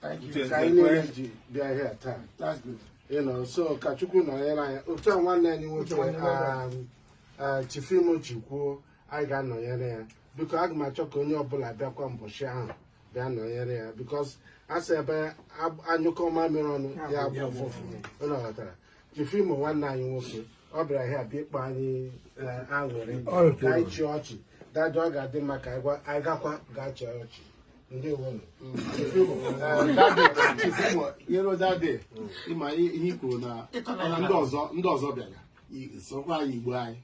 Thank you. Uche Ka anyị Nzekwe. niile ji bịa here taa. That's good. You know, so ka Chukwu nọnyere anyị. Otu a nwanne anyị nwoke Uche nwanne um, uh, Chief Imo ji kwuo anyị ga-anọnyere ya. Because aga m achọ ka onye ọbụla bịakwa mbọshị ahụ bịa nọnyere ya because a sị ebe ab- a nyụkọ mamịrị ọnụ ya agbọ ụfụfụ. Unu ghọtara? Chief Imo nwanne anyị nwoke ọ bịara here bịa ịkpa anyị eh, aṅụrị ka anyị chịa ọchị dajụ ọ ga-adị mma ka anyị gwa- anyị gakwa gaa chịa ọchị ndewonu you know that day ị ma ihe i kwuru na na ndị ọzọ ndị ọzọ bịara i- sokwa anyị igbo anyị